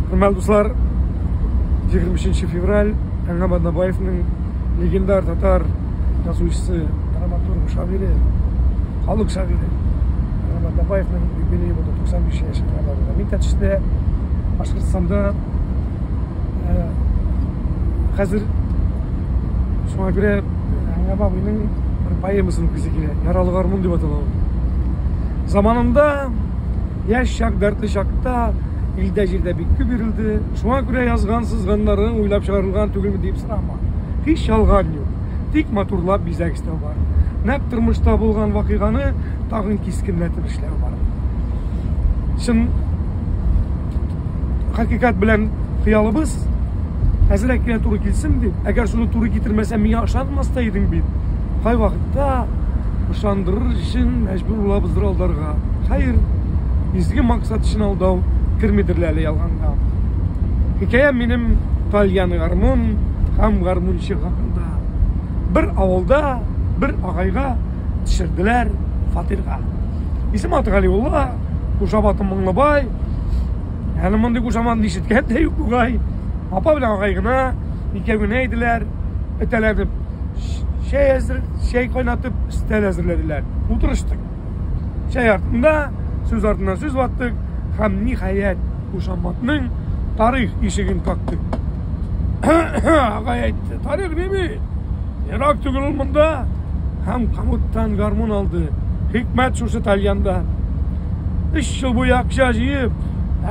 Хөрмәтле дуслар, 23 февраль Әңгәм Аднабаевның легендар татар язучысы, драматург, шагыйре, халык шагыйре Әңгәм Аднабаевның юбилее булды 95 яшен кабатлады. Мин тәтештә Башкортстанда хәзер шуңа күрә Әңгәм абыйның бер поэмасын укыйсы килә. Яралы гармун дип атала ул. Заманында Яшь чак, дәртле чакта илдә-җирдә бик күп йөрелде. Шуңа күрә язган, сызганнарың уйлап чыгарылган түгелме дип сорама. Һич ялган юк. Тик матурлап бизәк эшләү бар. Нәкъ тормышта булган вакыйганы тагын кискенләтеп эшләү бар. Чын хакыйкат белән хыялыбыз әзрәк кенә туры килсен дип, әгәр шуны туры китермәсә, миңа ышанмас та идең бит. Кайвакытта ышандырыр өчен Зур булабыз зур алдарга. Хәер, изге максат өчен алдау кермидер әле ялганга. Хикәям минем Тальян гармун һәм гармунчы хакында. Бер авылда бер агайга төшерделәр фатирга. Исем аты Галиулла, Кушабаты Моңлыбай. Әле мондый кушаман ишеткән дә юк бугай. Апа белән агай гына, икәү генә иделәр, этәләнеп чәй, әзер, чәй кайнатып, стәл әзерләделәр. Утырыштык. Чәй артында, сүз артыннан сүз ваттык, һәм ниһаять Кушаматның тарих ишеген кактык. Агай әйтте, тарих неме? Ерак түгел ул монда. Һәм камыттан гармун алды. Хикмәт шушы тальянда. Өч ел буе акча җыеп,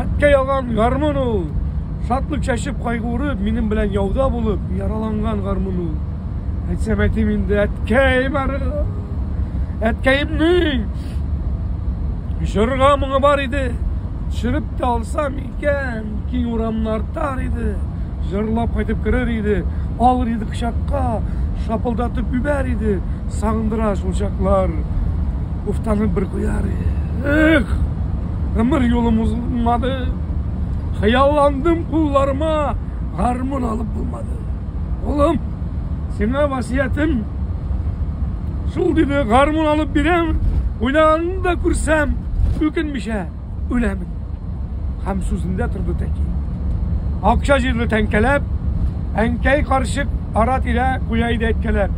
әткә ялган гармун ул. Шатлык чәчеп кайгырып, минем белән яуда булып, яраланган гармун ул. Әйтсәм әйтим инде, әткәй бары. Әткәемнең җырга моңы бар иде. Чырып та алсам икән, киң урамны артар иде. Җырлап кайтып керер иде, алыр иде кочакка, шапылдатып үбәр иде, сагындыра шул чаклар. Уфтанып бер куяр иде. Эх! Гомер юлым узылмады. Хыялландым кулларыма гармун алып булмады. Улым, сиңа васиятем шул диде, гармун алып бирәм, уйнаганны да күрсәм, үкенмичә үләмен. Һәм сүзендә торды тәки. Акча җирле тәңкәләп, әнкәй карчык ара-тирә куя иде әйткәләп.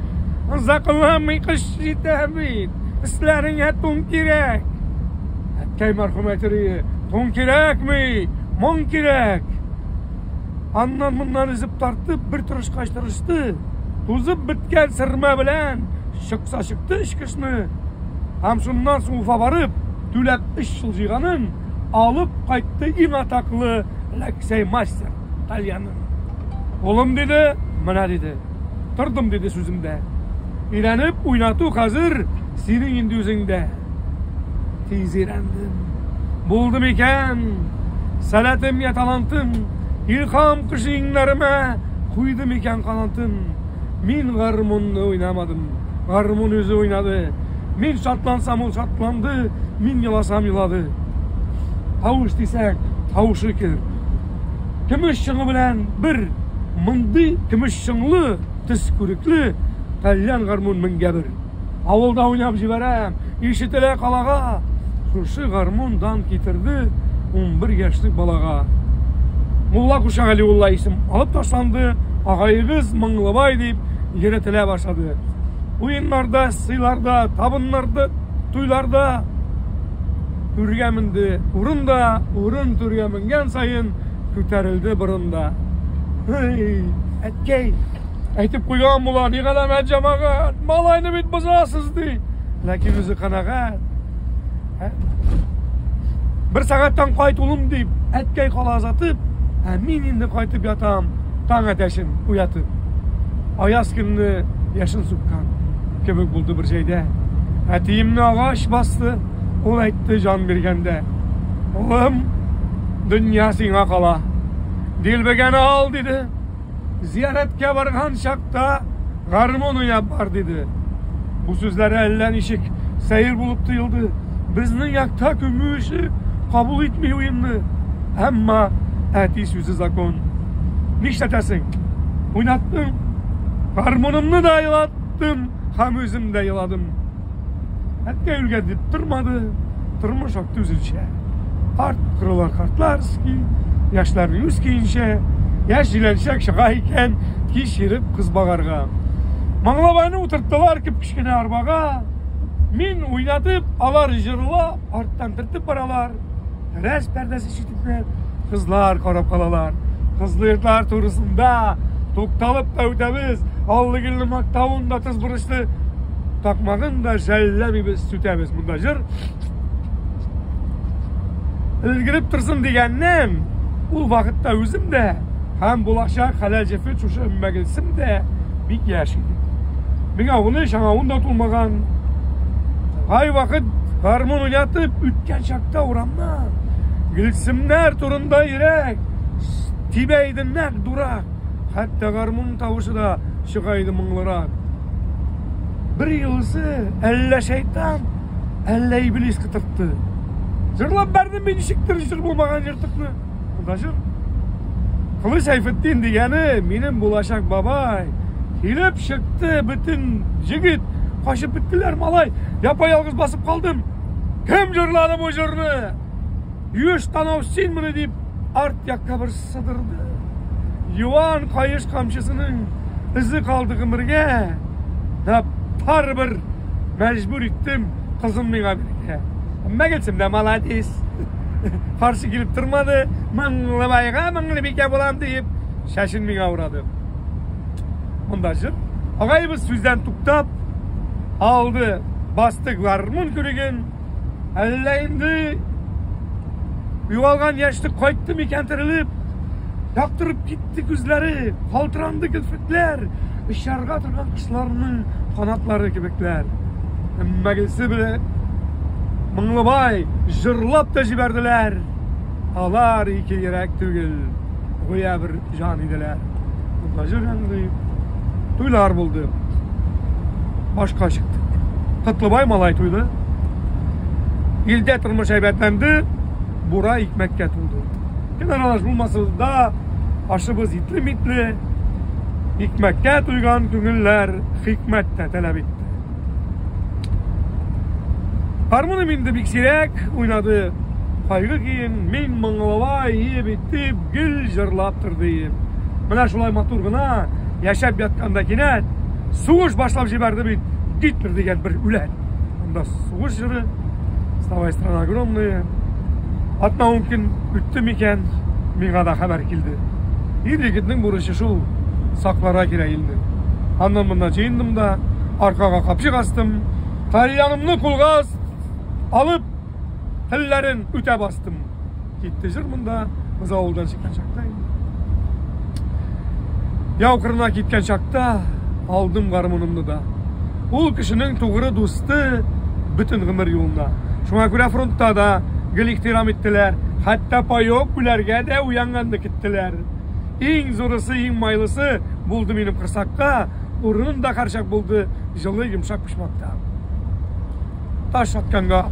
Озакламый кыш җитә бит, өсләреңә тун кирәк. Әткәй мәрхүм әйтер иде, тун кирәкми, моң кирәк. Аннан моннан өзеп тартып, бер тырышкач тырышты. Тузып беткән сырма белән чыкса чыкты эч кышны. Һәм шуннан соң Уфа барып, түләп өч ел җыйганын алып кайтты иң атаклы Ләксәй мастер кальяны. Улым диде, менә диде. Тордым диде сүземдә. Өйрәнеп уйнату хәзер синең инде үзеңдә. Тиз өйрәндем. Булды микән? Сәләтемгә талантым, илхам кошы иңнәремә куйды микән канатын? Мин гармунны уйнамадым, гармун үзе уйнады. Мин шатлансам, ул шатланды, мин еласам, елады. Тавыш дисәк, тавышы кер. Көмеш чыңы белән бер мондый көмеш чыңлы, төс күрекле, тальян гармун меңгә бер. Авылда уйнап җибәрәм, ишетелә калага. Шушы гармун дан китерде 11 яшьлек балага. Мулла Куша Галиулла исем алып ташланды, агаегыз Мыңлыбай дип йөретелә башлады. Уеннарда, сыйларда, табыннарда, туйларда түргә менде урын да урын түргә менгән саен күтәрелде борын да әткәй Әйтеп куйган була, ни галәмәт җәмәгать, малайны бит бозасыз ди. Ләкин үзе канәгать. Ә? Бер сәгатьтән кайт улым дип, әткәй кала озатып, ә мин инде кайтып ятам, таң әтәшен уятып. Аяз көнне яшен суккан кебек булды бер җәйдә. Әтиемне агач басты, ул әйтте җан биргәндә. Улым, дөнья сиңа кала. Дилбегәне ал, диде. Зияраткә барган чакта гармун уйнап бар, диде. Бу сүзләре әллә ничек сәер булып тоелды. Безнең якта күмү эше кабул итми уенны. Әмма әти сүзе закон. Нишләтәсең? Уйнаттым. Гармунымны да елаттым һәм үзем дә еладым. Әткәй үлгән дип тормады, тормыш акты үзенчә. Карт кырыла картлар ски, яшьләр үз көенчә, яшь җиләнчәк чыга икән, кич ерып кыз багарга. Маңлабайны утырттылар кеп кечкенә арбага. Мин уйнатып, алар җырла, арттан төртеп баралар. Рәс пәрдәсе читүкне кызлар карап калалар. Кызлы йортлар турысында тукталып та үтәбез. Аллыгелне мактавын да тыз бурычлы такмагын да жәлләмибез, сүтәбез. Монда җыр өлгереп торсын дигәннән, ул вакытта үзем дә һәм булачак хәләл җефе шушы мәгелсем дә бик яшь иде. Миңа уны шаңавын да тулмаган. Ай вакыт гармун уйнатып үткән чак Урамда, урамда. Гөлсемнәр турында йөрәк. Тибә иде нәк дурак. Хәтта гармун тавышы да чыга иде моңлырак. Бер юлысы әллә шайтан, әллә иблис кытыртты. Җырлап бәрдем мин ничектер җыр булмаган җыртыкны. Анда җыр. Кылыч Сәйфетдин дигәне минем булачак бабай. Килеп чыкты бөтен җегет, качып беттеләр малай. Япа-ялгыз басып калдым. Кем җырлады бу җырны? Юеш танау синмени? дип, арт якка бер сыдырды. Юан каеш камчысының эзе калды гомергә. Да барыбер мәҗбүр иттем кызым миңа бирергә. Мәгәсем дә молодец. Каршы килеп тормады. Мыңлыбайга мыңлыбикә булам диеп, шәшен миңа урады. Монда җыр. Агайыбыз сүздән туктап, алды, басты гармун күреген, әллә инде югалган яшьлек кайтты микән терелеп, яктырып китте күзләре, калтыранды керфекләр, очарга торган кошларның канатлары кебекләр. Әмма гелсе беле Моңлыбай җырлап та җибәрделәр. Алар ике йөрәк түгел. гүя бер җан иделәр. Таҗир әндәй туйлар булды. Башка чыкты. Котлыбай малай туйды. Илдә тормыш әйбәтләнде, бура икмәккә тулды. Кем аралаш булмасыз да, ашыбыз итле-митле, икмәккә туйган күңелләр хикмәт тә таләп итте. Гармуным инде бик сирәк уйнады. Кайгы киен, мин моңлавай иеп итеп гел җырлап торды ием. Менә шулай матур гына яшәп ятканда кинәт сугыш башлап җибәрде бит Гитлер дигән бер үләт. Анда сугыш җыры, вставай страна огромная. Атна-ун көн үтте микән, миңа да хәбәр килде. Ир-егетнең бурычы шул, сакларга кирәк илне. Аннан-моннан җыендым да, аркага капчык астым, тальянымны кулга алып, телләрен үтә бастым. Китте җыр монда, без авылдан чыккан чакта инде. Яу кырына киткән чакта алдым гармунымны да. Ул кешенең тугры дусты бөтен гомер юлына. Шуңа күрә фронтта да гел ихтирам иттеләр, хәтта паек күләргә дә уянганны кеттеләр. Иң зурысы, иң майлысы булды минем корсакка, урын да харчак булды, җылы, йомшак почмакта. Таш атканга,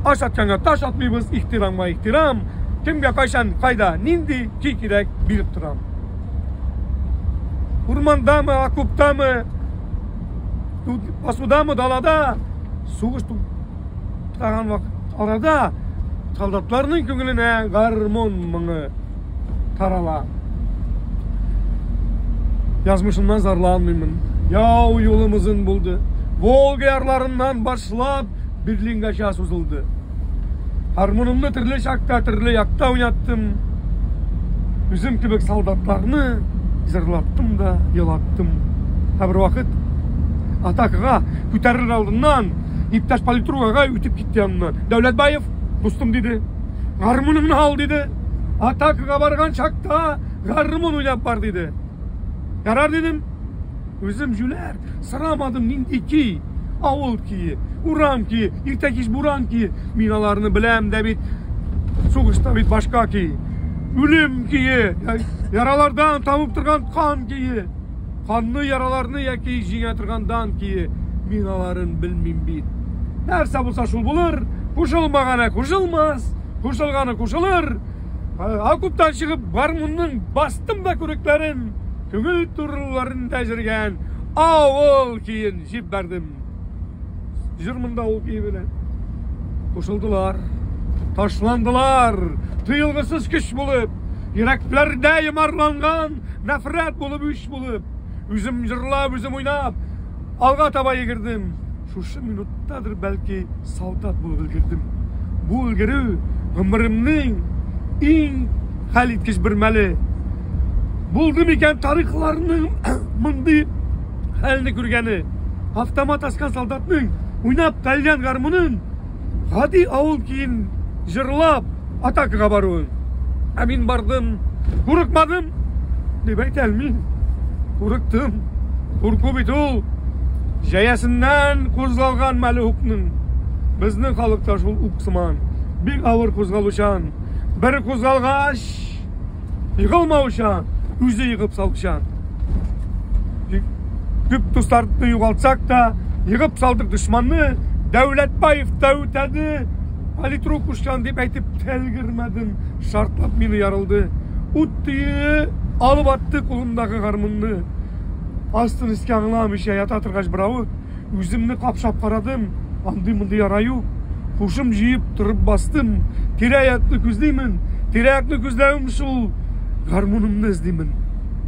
аш атканга таш атмыйбыз, ихтирамга ихтирам, кемгә кайчан, кайда, нинди көй кирәк, биреп торам. Урмандамы, окоптамы, басудамы, далада сугыш туктаган вакыт арада солдатларның күңеленә гармон моңы тарала. Язмышымнан зарланмыймын. Яу юлым озын булды. Волга ярларыннан баш Башлап, Берлингача сузылды. Гармунымны төрле чакта, төрле якта уйнаттым. Үзем кебек солдатларны җырлаттым да, елаттым. Ә бер вакыт атакага күтәрер алдыннан иптәш политругага үтеп китте яныннан. Дәүләтбаев, дустым диде, гармуныңны ал диде. Атакага барган чакта гармун уйнап бар диде. Ярар дидем. Үзем җүләр, сорамадым нинди ки, авыл кие, урам кие, иртә кич буран кие. Мин аларны беләм дә бит. Сугышта бит башка ки. Үлем кие, яралардан табып торган кан кие. Канны, яраларны яки җиңә торгандан кие. Мин аларын белмим бит. Нәрсә булса шул булыр, кушылмаганы кушылмас, кушылганы кушылыр. Окуптан чыгып, гармунның бастым да күрекләрен, күңел турыларын да җиргән авыл киен җип бәрдем. Җыр монда ул кие белән. Кушылдылар, ташландылар, тыелгысыз көч булып, йөрәкләрдә йомарланган нәфрәт булып үч булып, үзем җырлап, үзем уйнап, Алга таба йөгердем. Шушы минуттадыр бәлки солдат булып өлгердем. Бу өлгерү гомеремнең иң хәл иткеч бер мәле. Булды микән тарихларның мондый хәлне күргәне? Автомат аскан солдатның уйнап калган гармунын гади авыл көен җырлап атакага баруын. Ә мин бардым, курыкмадым дип әйтә алмыйм. Курыктым. Курку бит ул җәясеннән кузгалган мәлухның. Безнең халыкта шул ук сыман. Бик авыр кузгалучан. Бер кузгалгач, Егылмаучан, үзе егып салучан. Төп дусларны югалтсак та, егып салдык дошманны, Дәүләтбаев Дәүтәне политрук ушкан дип әйтеп тәлгермәдем, шартлап мине ярылды. Ут төе алып атты кулымдагы гармунны. Астын искә аңламыйча ята торгач, беравык Үземне капшап карадым, андый-мондый яра юк. Һушым җыеп торып бастым. Тирә-якны күзлимен. Тирә-якны күзләвем шул гармунымны эзлимен.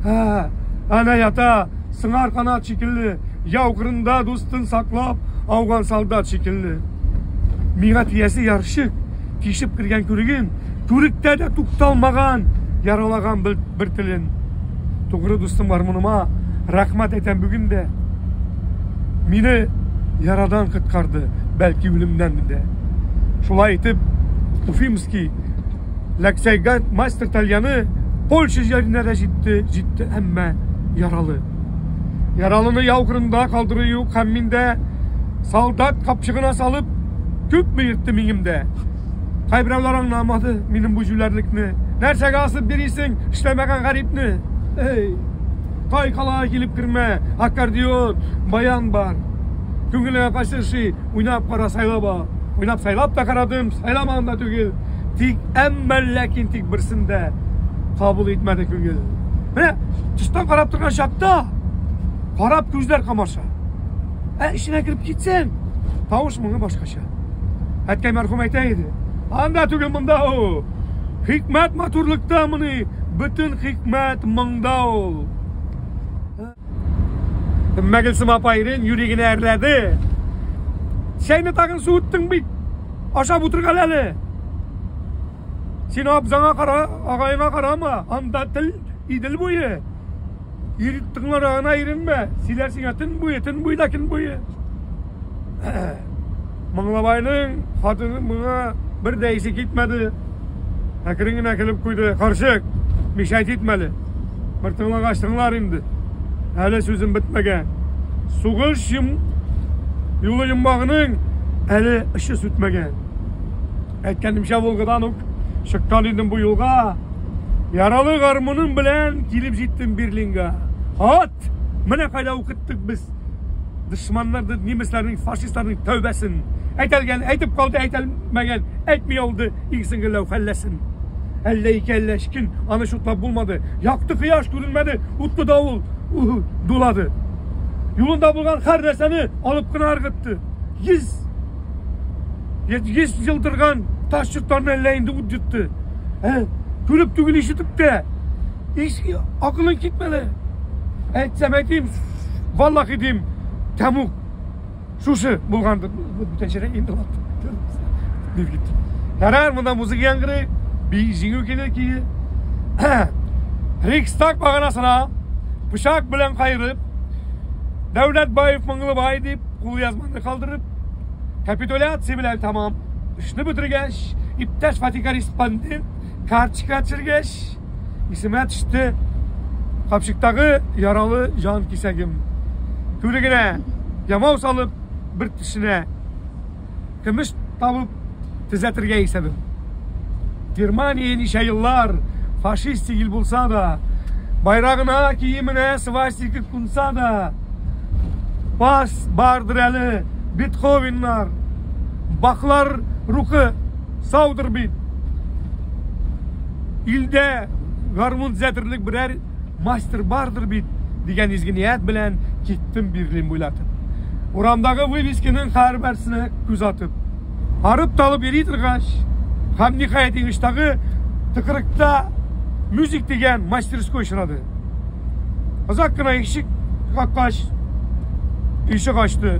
Һә, ана ята, сыңар канат шикелле, яу кырында дустын саклап, ауган солдат шикелле. Миңа тиясе ярчык. тишеп кергән күреген, түректә дә тукталмаган яралаган бер, бер телен. Тугры дустым гармуныма рәхмәт әйтәм бүген дә. Мине ярадан коткарды, бәлки үлемнән дә. Шулай итеп, Уфимский Ләксәйгә мастер тальяны Польша җиренә дә җитте, җитте, әмма яралы. Яралыны яу кырында калдыру юк һәм миндә солдат капчыгына салып Күпме йөртте миңемдә. Кайберәүләр аңламады минем бу җүләрлекне. Нәрсәгә асып бирисең эшләмәгән гарипне? Эй, кай калага килеп кермә, аккордеон, баян бар. Күңелеңә кайсы ши, уйнап кара, сайлап ал. Уйнап сайлап та карадым, сайламаган да түгел. Тик әмма ләкин тик берсендә кабул итмәде күңел. Менә тыштан карап торган чакта карап күзләр камаша. Ә эченә кереп китсәң, тавыш моңы башкача. Әткәй мәрхүм әйтә иде. Анда түгел монда ул. Хикмәт матурлыкта моны, бөтен хикмәт моңда ул. Мәгелсем апа ирен юри генә әрләде. Чәйне тагын суыттың бит. Ашап утырган әле. Син абзаңа кара, агаеңа карама, анда тел идел буе. Ир тыңлара гына иренмә, сөйләр сиңа төн буе, төн буе да көн буе. Моңлабайның хатыны моңа бер дә исе китмәде. Әкрен генә көлеп куйды. Карчык, мишәйт итмәле. Бер тыңлагач тыңлар инде. Әле сүзем бетмәгән. Сугыш йым... юлы йомбагының әле ышчы сүтмәгән. Әйткәнемчә, Волгадан ук чыккан идем бу юлга. Яралы гармуным белән килеп җиттем Берлинга. Хат! Менә кайда укыттык без дошманнарны, немецларның, фашистларның тәүбәсен. Әйтәлгән, әйтеп калды, әйтәлмәгән, әйтми алды, иксен геләү хәлләсен. Әллә ике әллә өч көн аны шутлап булмады. Якты кояш күренмәде, утлы давыл дулады. Юлында булган һәр нәрсәне алып кына ыргытты. Йөз Еш жылдырган таш чоттарны әллә инде ут йотты. Ә? Күреп түгел ишетеп тә. Иш акылың китмәле. Әйтсәм әйтим, валлахи дим, тәмук шушы булгандыр. Бүтән шәрә инде ватты. Дип китте. Ярар, монда музыка яңгырый, би җиңү килер кие. Рикстаг баганасына пычак белән кайрып, Дәүләтбаев Мыңлыбай дип кулъязманы калдырып, Капитуляция белән тәмам. Эшне бетергәч, иптәш фатикориспондент карточка төшергәч, исемә төште капчыктагы яралы җан кисәгем. Түлегенә ямау салып, бер тешенә көмеш табып төзәтергә исәбем. Германия ничә еллар фашистик ил булса да, байрагына, киеменә свастика кунса да, пас бардыр әле Бетховеннар, баклар рухы саудыр бит. Илдә гармун төзәтерлек берәр мастер бардыр бит дигән изге ният белән киттем Берлин буйлатып. Урамдагы вывесканың һәрберсенә күз атып, арып талып йөри торгач, һәм ниһаять иңештагы тыкрыкта мюзик дигән мастерской очрады. Озак кына ишек каккач, ишек ачты.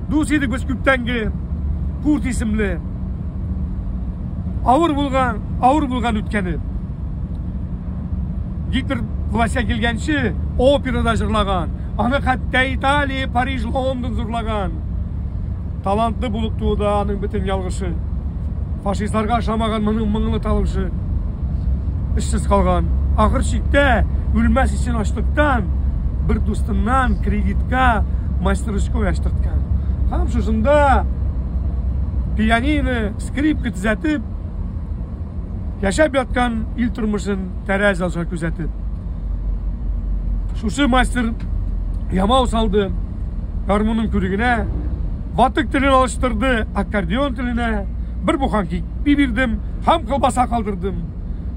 Дус идек без күптәнге Курт исемле. Авыр булган, авыр булган үткәне. Гитлер властька килгәнче операда җырлаган. Аны хәтта Италия, Париж, Лондон зурлаган. Талантлы булып туды аның бөтен ялгышы. Фашистларга ошамаган моның моңлы тавышы. Эшсез калган. Ахыр чиктә үлмәс өчен ачлыктан бер дустыннан кредитка ручку яштырткан һәм шушында пианино скрипка төзәтеп яшәп яткан ил тормышын тәрәз аша күзәтеп шушы мастер ямау салды гармунның күрегенә ватык телен алыштырды аккордеон теленә бер буханки бирдем һәм колбаса калдырдым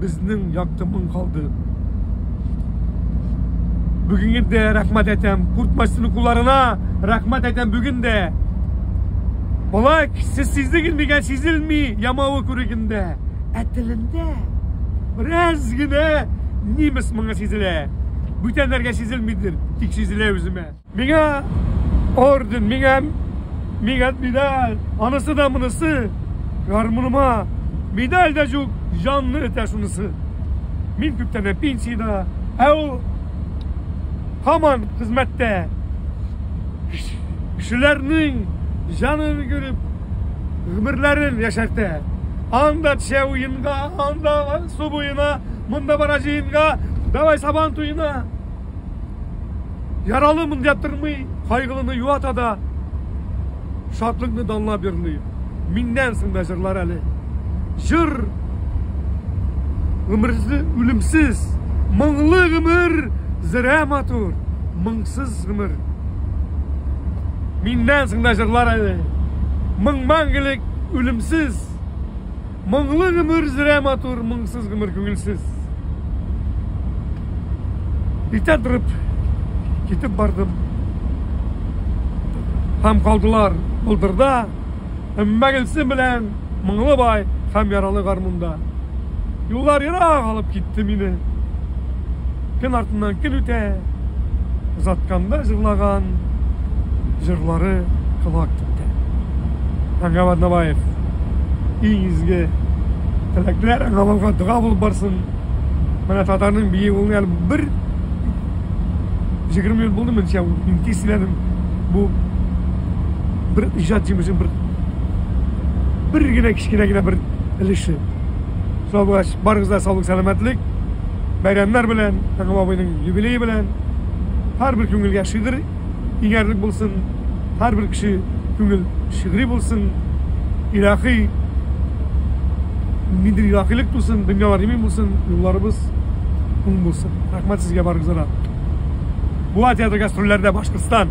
Безнең якты моң калды. Бүгенге дә рәхмәт әйтәм Куртмасын укуларына. Рәхмәт әйтәм бүген дә. Балак, сез сиздегез мигән сизелми ямавы күрегендә. Ә телендә бераз генә немец моңы сизелә. Бүтәннәргә сизелмидер, тик сизелә үземә. Миңа орден, миңа, миңа медаль, анысы да монысы, гармуныма медаль дә жук, жанны этә шунысы. Мин күптән пенсияда, ә ул һаман хезмәттә. Кешеләрнең жанын күреп, гомерләрен яшәртә. Анда төшә уенга, анда су буена, монда бара җыенга, давай сабан туена. Яралы мондя тырмый, кайгылыны юата да, шатлыкны данлап йөрни. Миннән соң да җырлар әле. Җыр гомерле, үлемсез, моңлы гомер, зирә матур, моңсыз гомер. Миннән соң да җырлар әле. Моң мәңгелек, үлемсез. Моңлы гомер зрә матур, моңсыз гомер күңелсез. Иртә торып китеп бардым. Һәм калдылар болдырда, Өммәгөлсем белән Моңлыбай һәм яралы гармунда. Юллар ерак алып китте мине. Көн артыннан көн үтә, озатканда җырлаган җырлары колак китте. Аңгаб Аднабаев, иң изге теләкләр аңа булга дога булып барсын. Менә татарның бии ул әле бер 20 ел булды менчә ул. Мин тиз сөйләдем. Бу бер иҗат җимеше бер бер генә кечкенә генә бер өлеше. Сау булгач, барыгызга саулык, сәламәтлек. бәйрәмнәр белән, Тәгъва абыйның юбилее белән. Һәрбер күңелгә шигырь иңәрлек булсын, һәрбер кеше күңел шигъри булсын, илаһи ниндидер илаһилек тусын, дөньялар имин булсын, юлларыбыз уң булсын. Рәхмәт сезгә барыгызга да. Буа театры гастрольләрдә Башкортстан!